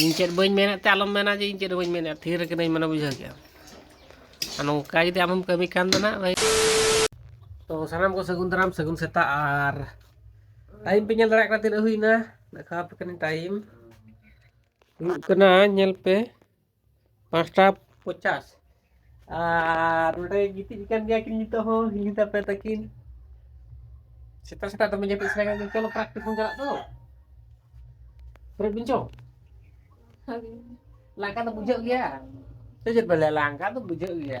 ᱤᱧ ᱪᱮᱫ ᱵᱟᱹᱧ ᱢᱮᱱᱮᱫ ᱛᱮ ᱟᱞᱚᱢ ᱢᱮᱱᱟ ᱡᱮ ᱤᱧ ᱪᱮᱫ ᱵᱟᱹᱧ ᱢᱮᱱᱮᱫ ᱛᱷᱤᱨ ᱠᱟᱹᱱᱟᱹᱧ ᱢᱟᱱᱮ ᱵᱩᱡᱷᱟᱹᱣ ᱠᱮᱜᱼᱟ ᱟᱨ ᱱᱚᱝᱠᱟ ᱡᱩᱫᱤ ᱟᱢᱮᱢ ᱠᱟᱹᱢᱤ ᱠᱟᱱ ᱫᱚ ᱱᱟᱜ ᱵᱷᱟᱹᱭ ᱛᱚ ᱥᱟᱱᱟᱢ ᱠᱚ ᱥᱟᱹᱜᱩᱱ ᱫᱟᱨᱟᱢ ᱥᱟᱹᱜᱩᱱ ᱥᱮᱛᱟᱜ ᱟᱨ ᱴᱟᱭᱤᱢ ᱯᱮ ᱧᱮᱞ ᱫᱟᱲᱮᱭᱟᱜ ᱠᱟᱱᱟ ᱛᱤᱱᱟᱹᱜ ᱦᱩᱭᱱᱟ ᱫᱮᱠᱷᱟᱣ ᱟᱯᱮ ᱠᱟᱹᱱᱟᱹᱧ ᱴᱟᱭᱤᱢ ᱦᱩᱭᱩᱜ ᱠᱟᱱᱟ ᱧᱮᱞ ᱯᱮ ᱯᱟᱸᱪᱴᱟ ᱯᱚᱪᱟᱥ ᱟᱨ ᱱᱚᱰᱮ ᱜᱤᱛᱤᱡ ᱠᱟᱱ ᱜᱮᱭᱟ ᱠᱤᱱ ᱱᱤᱛᱚᱜ ᱦᱚᱸ ᱦᱤᱞᱤ ᱛᱟᱯᱮ ᱛᱟᱹᱠᱤᱱ ᱥᱮᱛᱟᱜ ᱥᱮᱛᱟᱜ ᱫᱚᱢᱮ ᱡᱟᱹᱯᱤᱫ ᱥᱟᱱᱟ ᱠᱟᱱ ᱪᱚᱞᱚ ᱯᱨᱮᱠᱴᱤᱥ ᱵᱚᱱ ᱪᱟᱞᱟᱜ ᱫᱚ ᱯᱨᱮᱠ ᱵᱤᱱ ᱪᱚ ᱞᱟᱸᱜᱟ ᱫᱚ ᱵᱩᱡᱷᱟᱹᱜ ᱜᱮᱭᱟ ᱥᱮ ᱪᱮᱫ ᱵᱮᱱ ᱞᱟᱹᱭᱟ ᱞᱟᱸᱜᱟ ᱫᱚ ᱵᱩᱡᱷᱟᱹᱜ ᱜᱮᱭᱟ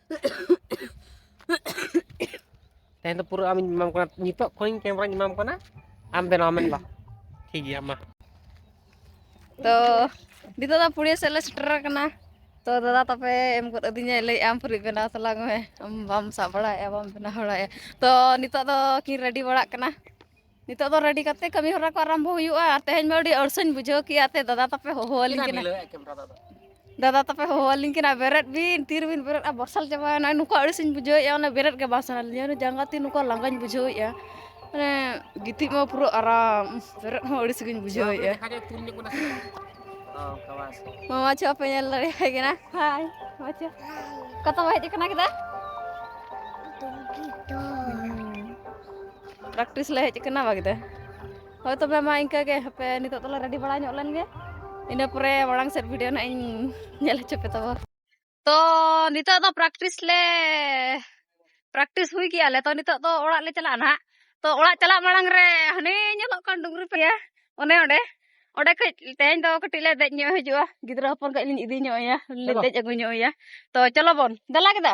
ᱛᱮᱦᱮᱧ ᱫᱚ ᱯᱩᱨᱟᱹ ᱟᱢᱤᱧ ᱮᱢᱟᱢ ᱠᱟᱱᱟ ᱱᱤᱛᱚᱜ ᱠᱷᱚᱱᱤᱧ ᱠᱮᱢᱮᱨᱟᱧ ᱮᱢᱟᱢ ᱠᱟᱱᱟ ᱟᱢ ᱵᱮᱱᱟᱣ ᱢᱮ ᱵᱟ ᱴᱷᱤᱠ ᱜᱮᱭᱟ ᱢᱟ ᱛᱚ ᱱᱤᱛᱚᱜ ᱫᱚ ᱯᱩᱲᱤᱭᱟᱹ ᱥᱮᱫ ᱞᱮ ᱥᱮᱴᱮᱨ ᱟᱠᱟᱱᱟ ᱛᱚ ᱫᱟᱫᱟ ᱛᱟᱯᱮ ᱮᱢ ᱜᱚᱫ ᱟᱹᱫᱤᱧᱟ ᱞᱟᱹᱭ ᱟᱢ ᱯᱷᱩᱨᱤ ᱵᱮᱱᱟᱣ ᱛᱟᱞᱟᱝ ᱢᱮ ᱟᱢ ᱵᱟᱢ ᱥᱟᱵ ᱵᱟᱲᱟᱭᱮᱫᱼᱟ ᱵᱟᱢ ᱵᱮᱱᱟᱣ ᱵᱟᱲᱟᱭᱮᱫᱼᱟ ᱛᱚ ᱱᱤᱛᱚᱜ ᱫᱚ ᱠᱤᱱ ᱨᱮᱰᱤ ᱵᱟᱲᱟᱜ ᱠᱟᱱᱟ ᱱᱤᱛᱚᱜ ᱫᱚ ᱨᱮᱰᱤ ᱠᱟᱛᱮ ᱠᱟᱹᱢᱤ ᱦᱚᱨᱟ ᱠᱚ ᱟᱨᱟᱢᱵᱷᱚ ᱦᱩᱭᱩᱜᱼᱟ ᱟᱨ ᱛᱮᱦᱮᱧ ᱢᱟ ᱟᱹᱰᱤ ᱟᱹᱲᱥᱟᱹᱧ ᱵᱩᱡᱷᱟᱹᱣ ᱠᱮᱜᱼᱟ ᱛᱮ ᱫᱟᱫᱟ ᱛᱟᱯᱮ ᱦᱚᱦᱚ ᱟᱹᱞᱤᱧ ᱠᱟᱱᱟ ᱫᱟᱫᱟ ᱛᱟᱯᱮ ᱦᱚᱦᱚ ᱟᱹᱞᱤᱧ ᱠᱟᱱᱟ ᱵᱮᱨᱮᱫ ᱵᱤᱱ ᱛᱤ ᱨᱮᱵᱤᱱ ᱵᱮᱨᱮᱫᱼᱟ ᱵᱚᱨᱥᱟᱞ ᱪᱟᱵᱟᱭᱮᱱᱟ ᱱᱚᱝᱠᱟ ᱟᱹᱲᱤᱥᱤᱧ ᱵᱩᱡᱷᱟᱹᱣᱮᱜᱼᱟ ᱚᱱᱟ ᱵᱮᱨᱮᱫ ᱜᱮ ᱵᱟᱝ ᱥᱟᱱᱟ ᱞᱤᱧᱟ ᱚᱱᱟ ᱡᱟᱸᱜᱟ ᱛᱤ ᱱᱚᱝᱠᱟ ᱞᱟᱸᱜᱟᱧ ᱵᱩᱡᱷᱟᱹᱣᱮᱜᱼᱟ ᱢᱟᱱᱮ ᱜᱤᱛᱤᱡ ᱢᱟ ᱯᱩᱨᱟᱹ ᱟᱨᱟᱢ ᱵᱮᱨᱮᱫ ᱦᱚᱸ ᱟᱹᱲᱤᱥ ᱜᱤᱧ ᱵᱩᱡᱷᱟᱹᱣᱮᱜᱼᱟ ᱢᱟᱢᱟ ᱪᱷᱚ ᱯᱮ ᱧᱮᱞ ᱫᱟᱲᱮᱭᱟᱭ ᱠᱟᱱᱟ ᱦᱟᱭ ᱢᱟᱢᱟ ᱪᱷᱚ ᱠᱟᱛᱷᱟ ᱵᱟᱭ ᱦᱮᱡ ᱠᱟᱱᱟ ᱠᱮᱫᱟ ᱯᱨᱮᱠᱴᱤᱥ ᱞᱮ ᱦᱮᱡ ᱟᱠᱟᱱᱟ ᱵᱟᱜᱫᱮ ᱦᱳᱭ ᱛᱚᱵᱮ ᱢᱟ ᱤᱱᱠᱟᱹᱜ ᱜᱮ ᱦᱟᱯᱮ ᱱᱤᱛᱚᱜ ᱫᱚᱞᱮ ᱨᱮᱰᱤ ᱵᱟᱲᱟ ᱧᱚᱜ ᱞᱮᱱᱜᱮ ᱤᱱᱟᱹ ᱯᱚᱨᱮ ᱢᱟᱲᱟᱝ ᱥᱮᱫ ᱵᱷᱤᱰᱭᱳ ᱱᱟᱦᱟᱜ ᱤᱧ ᱧᱮᱞ ᱦᱚᱪᱚ ᱯᱮ ᱛᱟᱵᱚ ᱛᱚ ᱱᱤᱛᱚᱜ ᱫᱚ ᱯᱨᱮᱠᱴᱤᱥ ᱞᱮ ᱯᱨᱮᱠᱴᱤᱥ ᱦᱩᱭ ᱠᱮᱜᱼᱟ ᱞᱮ ᱛᱚ ᱱᱤᱛᱚᱜ ᱫᱚ ᱚᱲᱟᱜ ᱞᱮ ᱪᱟᱞᱟᱜᱼᱟ ᱱᱟᱦᱟᱜ ᱛᱚ ᱚᱲᱟᱜ ᱪᱟᱞᱟᱜ ᱢᱟᱲᱟᱝ ᱨᱮ ᱦᱟᱱᱮ ᱧᱮᱞᱚᱜ ᱠᱟᱱ ᱰᱩᱝᱨᱤ ᱯᱮᱭᱟ ᱚᱱᱮ ᱚᱸᱰᱮ ᱚᱸᱰᱮ ᱠᱟᱹᱡ ᱛᱮᱦᱮᱧ ᱫᱚ ᱠᱟᱹᱴᱤᱡ ᱞᱮ ᱫᱮᱡ ᱧᱚᱜ ᱦᱤᱡᱩᱜᱼᱟ ᱜᱤᱫᱽᱨᱟᱹ ᱦᱚᱯᱚᱱ ᱠᱟᱹᱡ ᱞᱤᱧ ᱤᱫᱤ ᱧᱚᱜ ᱮᱭᱟ ᱞᱮ ᱫᱮᱡ ᱟᱹᱜᱩ ᱧᱚᱜ ᱮᱭᱟ ᱛᱚ ᱪᱚᱞᱚ ᱵᱚᱱ ᱫᱮᱞᱟ ᱠᱮᱫᱟ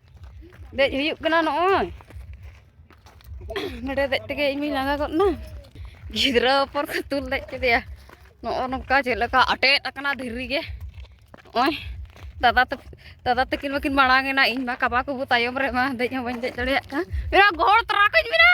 ᱫᱮᱡ ᱦᱩᱭᱩᱜ ᱠᱟᱱᱟ ᱱᱚᱜᱼᱚᱭ ᱱᱚᱰᱮ ᱫᱮᱡ ᱛᱮᱜᱮ ᱤᱧ ᱢᱟᱹᱧ ᱞᱟᱸᱜᱟ ᱜᱚᱫ ᱮᱱᱟ ᱜᱤᱫᱽᱨᱟᱹ ᱦᱚᱯᱚᱱ ᱠᱚ ᱛᱩᱞ ᱫᱮᱡ ᱠᱮᱫᱮᱭᱟ ᱱᱚᱜᱼᱚ ᱱᱚᱝᱠᱟ ᱪᱮᱫ ᱞᱮᱠᱟ ᱟᱴᱮᱫ ᱟᱠᱟᱱᱟ ᱫᱷᱤᱨᱤ ᱜᱮ ᱱᱚᱜᱼᱚᱭ ᱫᱟᱫᱟ ᱛᱟᱠᱚ ᱫᱟᱫᱟ ᱛᱟᱹᱠᱤᱱ ᱢᱟᱹᱠᱤᱱ ᱢᱟᱲᱟᱝ ᱮᱱᱟ ᱤᱧ ᱢᱟ ᱠᱟᱵᱟ ᱠᱚᱵᱚ ᱛᱟᱭᱚᱢ ᱨᱮ ᱢᱟ ᱫᱮᱡ ᱦᱚᱸ ᱵᱟᱹᱧ ᱫᱮᱡ ᱫᱟᱲᱮᱭᱟᱜ ᱠᱟᱱ ᱢᱮᱱᱟ ᱜᱚᱦᱚᱲ ᱛᱚᱨᱟ ᱠᱟᱹᱧ ᱢᱮᱱᱟ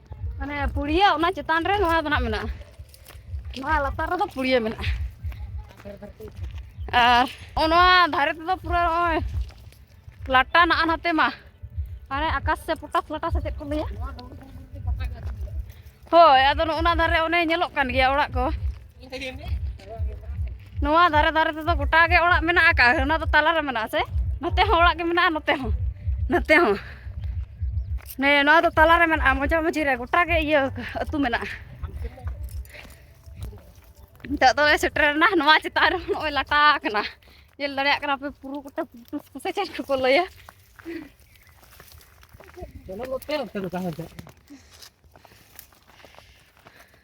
ᱢᱟᱱᱮ ᱯᱩᱲᱤᱭᱟᱹ ᱚᱱᱟ ᱪᱮᱛᱟᱱ ᱨᱮ ᱱᱚᱣᱟ ᱫᱚ ᱱᱟᱜ ᱢᱮᱱᱟᱜᱼᱟ ᱱᱚᱣᱟ ᱞᱟᱛᱟᱨ ᱨᱮᱫᱚ ᱯᱩᱲᱭᱟᱹ ᱢᱮᱱᱟᱜᱼᱟ ᱟᱨ ᱱᱚᱜᱼᱚ ᱱᱚᱣᱟ ᱫᱷᱟᱨᱮ ᱛᱮᱫᱚ ᱯᱩᱨᱟᱹ ᱱᱚᱜᱼᱚᱭ ᱞᱟᱴᱟ ᱱᱟᱜᱼᱟ ᱱᱟᱛᱮ ᱢᱟ ᱦᱟᱱᱮ ᱟᱠᱟᱥ ᱥᱮ ᱯᱚᱴᱟᱥ ᱞᱟᱴᱟ ᱥᱮ ᱪᱮᱫ ᱠᱚ ᱞᱟᱹᱭᱟ ᱦᱳᱭ ᱟᱫᱚ ᱱᱚᱜᱼᱚ ᱱᱟ ᱫᱷᱟᱨᱮ ᱚᱱᱮ ᱧᱮᱞᱚᱜ ᱠᱟᱱ ᱜᱮᱭᱟ ᱚᱲᱟᱜ ᱠᱚ ᱱᱚᱣᱟ ᱫᱷᱟᱨᱮ ᱫᱷᱟᱨᱮ ᱛᱮᱫᱚ ᱜᱚᱴᱟ ᱜᱮ ᱚᱲᱟᱜ ᱢᱮᱱᱟᱜ ᱟᱠᱟᱫᱼᱟ ᱚᱱᱟ ᱫᱚ ᱛᱟᱞᱟᱨᱮ ᱢᱮᱱᱟᱜᱼᱟ ᱥᱮ ᱱᱚᱛᱮ ᱦᱚᱸ ᱚᱲᱟᱜ ᱜᱮ ᱢᱮᱱᱟᱜᱼᱟ ᱱᱚᱛᱮ ᱦᱚᱸ ᱱᱚᱛᱮ ᱦᱚᱸ ᱱᱮ ᱱᱚᱣᱟ ᱫᱚ ᱛᱟᱞᱟᱨᱮ ᱢᱮᱱᱟᱜᱼᱟ ᱢᱚᱡᱟ ᱢᱚᱡᱤ ᱨᱮ ᱜᱚᱴᱟ ᱜᱮ ᱤᱭᱟᱹ ᱟᱹᱛᱩ ᱢᱮᱱᱟᱜᱼᱟ ᱱᱤᱛᱚᱜ ᱫᱚ ᱥᱮᱴᱮᱨᱮᱱᱟ ᱱᱚᱣᱟ ᱪᱮᱛᱟᱱ ᱨᱮ ᱱᱚᱜᱼᱚᱭ ᱞᱟᱴᱟ ᱟᱠᱟᱱᱟ ᱧᱮᱞ ᱫᱟᱲᱮᱭᱟᱜ ᱠᱟᱱᱟ ᱯᱮ ᱯᱩᱨᱩ ᱜᱚᱴᱟ ᱥᱮ ᱪᱮᱫ ᱠᱚᱠᱚ ᱞᱟᱹᱭᱟ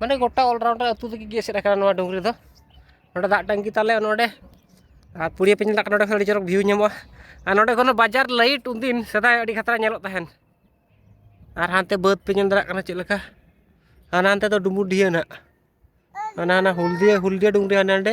ᱢᱟᱱᱮ ᱜᱚᱴᱟ ᱚᱞᱨᱟᱣᱩᱱᱰᱟᱨ ᱟᱹᱛᱩ ᱛᱮᱜᱮ ᱜᱮ ᱮᱥᱮᱫ ᱟᱠᱟᱱᱟ ᱱᱚᱣᱟ ᱰᱩᱝᱨᱤ ᱫᱚ ᱱᱚᱰᱮ ᱫᱟᱜ ᱴᱟᱹᱝᱠᱤ ᱛᱟᱞᱮ ᱱᱚᱰᱮ ᱟᱨ ᱯᱩᱲᱤᱭᱟᱹ ᱯᱮ ᱧᱮᱞ ᱫᱟᱲᱮᱭᱟᱜ ᱠᱟᱱᱟ ᱱᱚᱰᱮ ᱠᱷᱚᱱ ᱟᱹᱰᱤ ᱪᱚᱨᱚᱠ ᱵᱷᱤᱭᱩ ᱧᱟᱢᱚᱜᱼᱟ ᱟᱨ ᱱᱚᱰᱮ ᱠᱷᱚᱱ ᱵᱟᱡᱟᱨ ᱞᱟᱭᱤᱴ ᱩᱱᱫᱤᱱ ᱥᱮᱫᱟᱭ ᱟᱹᱰᱤ ᱠᱷᱟᱛᱨᱟ ᱧᱮᱞᱚᱜ ᱛᱟᱦᱮᱱ ᱟᱨ ᱦᱟᱱᱛᱮ ᱵᱟᱹᱫᱽ ᱯᱮ ᱧᱮᱞ ᱫᱟᱲᱮᱭᱟᱜ ᱠᱟᱱᱟ ᱪᱮᱫ ᱞᱮᱠᱟ ᱦᱟᱱᱟ ᱦᱟᱱᱛᱮ ᱫᱚ ᱰᱩᱢᱵᱩᱰᱤᱦᱟᱹ ᱱᱟᱜ ᱦᱟᱱᱟ ᱦᱟᱱᱟ ᱦᱩᱞᱫᱤᱭᱟᱹ ᱦᱩᱞᱫᱤᱭᱟᱹ ᱰᱩᱝᱨᱤ ᱦᱟᱸᱰᱮ ᱱᱟᱸᱰᱮ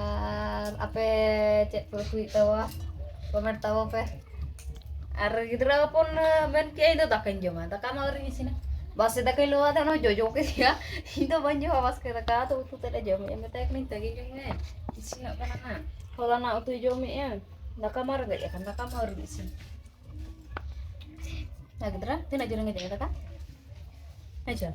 ᱟᱨ ᱟᱯᱮ ᱪᱮᱫ ᱯᱮ ᱩᱛᱩᱭᱮᱫ ᱛᱟᱵᱚᱣᱟ ᱠᱚᱢᱮᱱᱴ ᱛᱟᱵᱚ ᱯᱮ ᱟᱨ ᱜᱤᱫᱽᱨᱟᱹ ᱦᱚᱯᱚᱱ ᱢᱮᱱ ᱠᱮᱫ ᱤᱧ ᱫᱚ ᱫᱟᱠᱟᱧ ᱡᱚᱢᱟ ᱫᱟᱠᱟ ᱢᱟ ᱟᱹᱣᱨᱤᱧ ᱤᱥᱤᱱᱟ ᱵᱟᱥᱮ ᱫᱟᱠᱟᱧ ᱞᱚᱣᱟ ᱫᱟ ᱚᱱᱟ ᱡᱚᱡᱚ ᱠᱮᱫᱮᱭᱟ ᱤᱧ ᱫᱚ ᱵᱟᱹᱧ ᱡᱚᱢᱟ ᱵᱟᱥᱠᱮ ᱫᱟᱠᱟ ᱫᱚ ᱩᱛᱩ ᱛᱮᱫ ᱞᱮ ᱡᱚᱢᱮᱫᱼᱟ ᱢᱮᱛᱟᱭ ᱠᱟᱹᱱᱟᱹᱧ ᱛᱟᱹᱜᱤ ᱡᱚᱢ ᱢᱮ ᱤᱥᱤᱱᱚᱜ ᱠᱟᱱᱟ ᱦᱟᱸᱜ ᱦᱚᱞᱟᱱᱟᱜ ᱩᱛᱩᱭ ᱡᱚᱢᱮᱫᱼᱟ ᱫᱟᱠᱟ ᱢᱟ ᱨᱮᱸᱜᱮᱡ ᱟᱠᱟᱱ ᱫᱟᱠᱟ ᱢᱟ ᱟᱹᱣᱨᱤᱧ ᱤᱥᱤᱱ ᱡᱟᱦᱟᱸ ᱜᱤᱫᱽᱨᱟᱹ ᱛᱤᱱᱟᱹᱜ ᱡᱳᱨᱮᱢ ᱮᱱᱮᱡ ᱟᱠᱟᱫᱟ ᱦᱮᱸᱪᱚ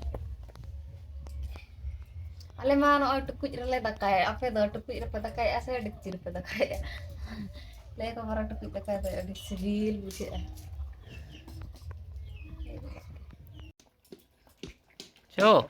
ᱟᱞᱮ ᱢᱟ ᱱᱚᱜᱼᱚᱭ ᱴᱩᱠᱩᱡ ᱨᱮᱞᱮ ᱫᱟᱠᱟᱭᱟ ᱟᱯᱮ ᱫᱚ ᱴᱩᱠᱩᱡ ᱨᱮᱯᱮ ᱫᱟᱠᱟᱭᱮᱜᱼᱟ ᱥᱮ ᱰᱮᱠᱪᱤ ᱨᱮᱯᱮ ᱫᱟᱠᱟᱭᱮᱜᱼᱟ ᱞᱟᱹᱭ ᱠᱚ ᱢᱟᱨᱟ ᱴᱩᱠᱩᱡ ᱫᱟᱠᱟ ᱫᱚ ᱟᱹᱰᱤ ᱥᱤᱵᱤᱞ ᱵᱩᱡᱷᱟᱹᱜᱼᱟ ᱪᱚ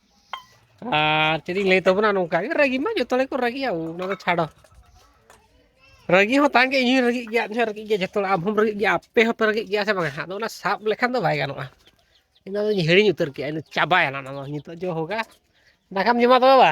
ᱟᱨ ᱪᱮᱫ ᱤᱧ ᱞᱟᱹᱭ ᱛᱟᱵᱚᱱᱟ ᱱᱚᱝᱠᱟ ᱜᱮ ᱨᱟᱹᱜᱤ ᱢᱟ ᱡᱚᱛᱚ ᱦᱚᱲ ᱜᱮᱠᱚ ᱨᱟᱹᱜᱤᱜᱼᱟ ᱚᱱᱟ ᱫᱚ ᱪᱷᱟᱲᱚ ᱨᱟᱹᱜᱤ ᱦᱚᱸ ᱛᱟᱦᱮᱸ ᱜᱮ ᱤᱧ ᱦᱚᱸᱧ ᱨᱟᱹᱜᱤᱜ ᱜᱮᱭᱟ ᱤᱧ ᱦᱚᱸ ᱨᱟᱹᱜᱤᱜ ᱜᱮᱭᱟ ᱡᱚᱛᱚ ᱦᱚᱲ ᱟᱢ ᱦᱚᱸᱢ ᱨᱟᱹᱜᱤᱜ ᱜᱮᱭᱟ ᱟᱯᱮ ᱦᱚᱸᱯᱮ ᱨᱟᱹᱜᱤᱜ ᱜᱮᱭᱟ ᱥᱮ ᱵᱟᱝᱟ ᱟᱫᱚ ᱚᱱᱟ ᱥᱟᱵ ᱞᱮᱠᱷᱟᱱ ᱫᱚ ᱵᱟᱭ ᱜᱟᱱᱚᱜᱼᱟ ᱤᱧ ᱫᱚᱧ ᱦᱤᱲᱤᱧ ᱩᱛᱟᱹᱨ ᱠᱮᱜᱼᱟ ᱤᱧ ᱫᱚ ᱪᱟᱵᱟᱭᱮᱱᱟ ᱚᱱᱟ ᱫᱚ ᱱᱤᱛᱚᱜ ᱡᱚ ᱦᱳᱜᱟ ᱫᱟᱠᱟᱢ ᱡᱚᱢᱟ ᱛᱚᱵᱮ ᱵᱟ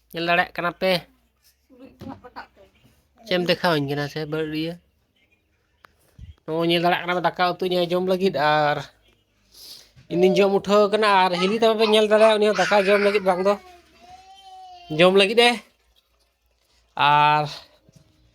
ᱧᱮᱞ ᱫᱟᱲᱮᱭᱟᱜ ᱠᱟᱱᱟ ᱯᱮ ᱪᱮᱫ ᱮᱢ ᱫᱮᱠᱷᱟᱣᱟᱹᱧ ᱠᱟᱱᱟ ᱥᱮ ᱵᱟᱹᱲᱤᱭᱟᱹ ᱱᱚᱜᱼᱚᱭ ᱧᱮᱞ ᱫᱟᱲᱮᱭᱟᱜ ᱠᱟᱱᱟ ᱫᱟᱠᱟ ᱩᱛᱩᱧ ᱡᱚᱢ ᱞᱟᱹᱜᱤᱫ ᱟᱨ ᱤᱧᱫᱩᱧ ᱡᱚᱢ ᱩᱴᱷᱟᱹᱣ ᱠᱟᱱᱟ ᱟᱨ ᱦᱤᱞᱤ ᱛᱟᱯᱮ ᱯᱮ ᱧᱮᱞ ᱫᱟᱲᱮᱭᱟᱜᱼᱟ ᱩᱱᱤ ᱦᱚᱸ ᱫᱟᱠᱟ ᱡᱚᱢ ᱞᱟᱹᱜᱤᱫ ᱵᱟᱝ ᱫᱚ ᱡᱚᱢ ᱞᱟᱹᱜᱤᱫ ᱮ ᱟᱨ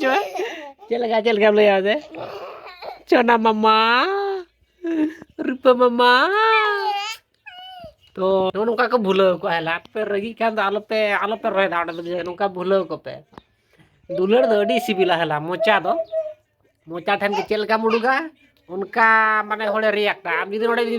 ᱪᱚ ᱪᱮᱫ ᱞᱮᱠᱟ ᱪᱮᱫ ᱞᱮᱠᱟᱢ ᱞᱟᱹᱭᱟ ᱥᱮ ᱪᱚᱱᱟ ᱢᱟᱢᱟ ᱨᱩᱯᱟᱹ ᱢᱟᱢᱟ ᱛᱚ ᱱᱚᱜᱼᱚ ᱱᱚᱝᱠᱟ ᱠᱚ ᱵᱷᱩᱞᱟᱹᱣ ᱠᱚᱣᱟ ᱦᱮᱞᱟ ᱟᱯᱮ ᱨᱟᱹᱜᱤᱜ ᱠᱷᱟᱱ ᱫᱚ ᱟᱞᱚᱯᱮ ᱟᱞᱚᱯᱮ ᱨᱚᱦᱚᱭ ᱫᱟ ᱚᱸᱰᱮ ᱫᱚ ᱱᱚᱝᱠᱟ ᱵᱷᱩᱞᱟᱹᱣ ᱠᱚᱯᱮ ᱫᱩᱞᱟᱹᱲ ᱫᱚ ᱟᱹᱰᱤ ᱥᱤᱵᱤᱞᱟ ᱦᱮᱞᱟ ᱢᱚᱪᱟ ᱫᱚ ᱢᱚᱪᱟ ᱴᱷᱮᱱ ᱜᱮ ᱪᱮᱫ ᱞᱮᱠᱟᱢ ᱩᱰᱩᱠᱟ ᱚᱱᱠᱟ ᱢᱟᱱᱮ ᱦᱚᱲᱮ ᱨᱤᱭᱟᱠᱴᱟ ᱟᱢ ᱡᱩᱫᱤ ᱱᱚᱰᱮ ᱡᱩᱫᱤ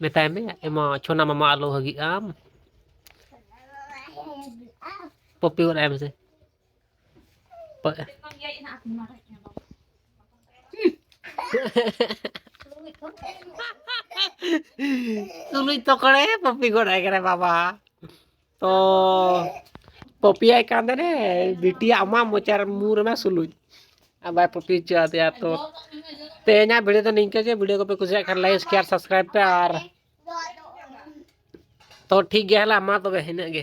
ᱢᱮᱛᱟᱭ ᱢᱮ ᱮᱢᱟ ᱪᱷᱚᱱᱟ ᱢᱟᱢᱟ ᱟᱞᱚ ᱦᱟᱹᱜᱤᱜ ᱟᱢ ᱯᱚᱯᱤ ᱜᱚᱫ ᱟᱭ ᱢᱮᱥᱮ ᱛᱩᱞᱩᱡ ᱛᱚᱠᱚᱲᱮ ᱯᱚᱯᱤ ᱜᱚᱫ ᱟᱭ ᱠᱟᱱᱟ ᱵᱟᱵᱟ ᱛᱚ ᱯᱚᱯᱤᱭᱟᱭ ᱠᱟᱱ ᱛᱟᱦᱮᱱᱮ ᱵᱤᱴᱤ ᱟᱢᱟᱜ ᱢᱚᱪᱟᱨ ᱢᱩ ᱨᱮᱢᱟ ᱥᱩᱞᱩᱡ ᱟᱨ ᱵᱟᱭ ᱯᱚᱯᱤ ᱦᱚᱪᱚ ᱟᱫᱮᱭᱟ ᱛᱚ ᱛᱮᱦᱮᱧᱟᱜ ᱵᱷᱤᱰᱤᱭᱳ ᱫᱚ ᱱᱤᱝᱠᱟᱹ ᱜᱮ ᱵᱷᱤᱰᱤᱭᱳ ᱠᱚᱯᱮ ᱠᱩᱥᱤᱭᱟᱜ ᱠᱷᱟᱱ ᱞᱟᱭᱤᱠ ᱥᱮᱭᱟᱨ ᱥᱟᱵᱥᱠᱨᱟᱭᱤᱵ ᱯᱮ ᱟᱨ ᱛᱚ ᱴᱷᱤᱠ ᱜᱮᱭᱟ ᱦᱮᱞᱟ ᱢᱟ ᱛᱚᱵᱮ ᱤᱱᱟᱹᱜ ᱜᱮ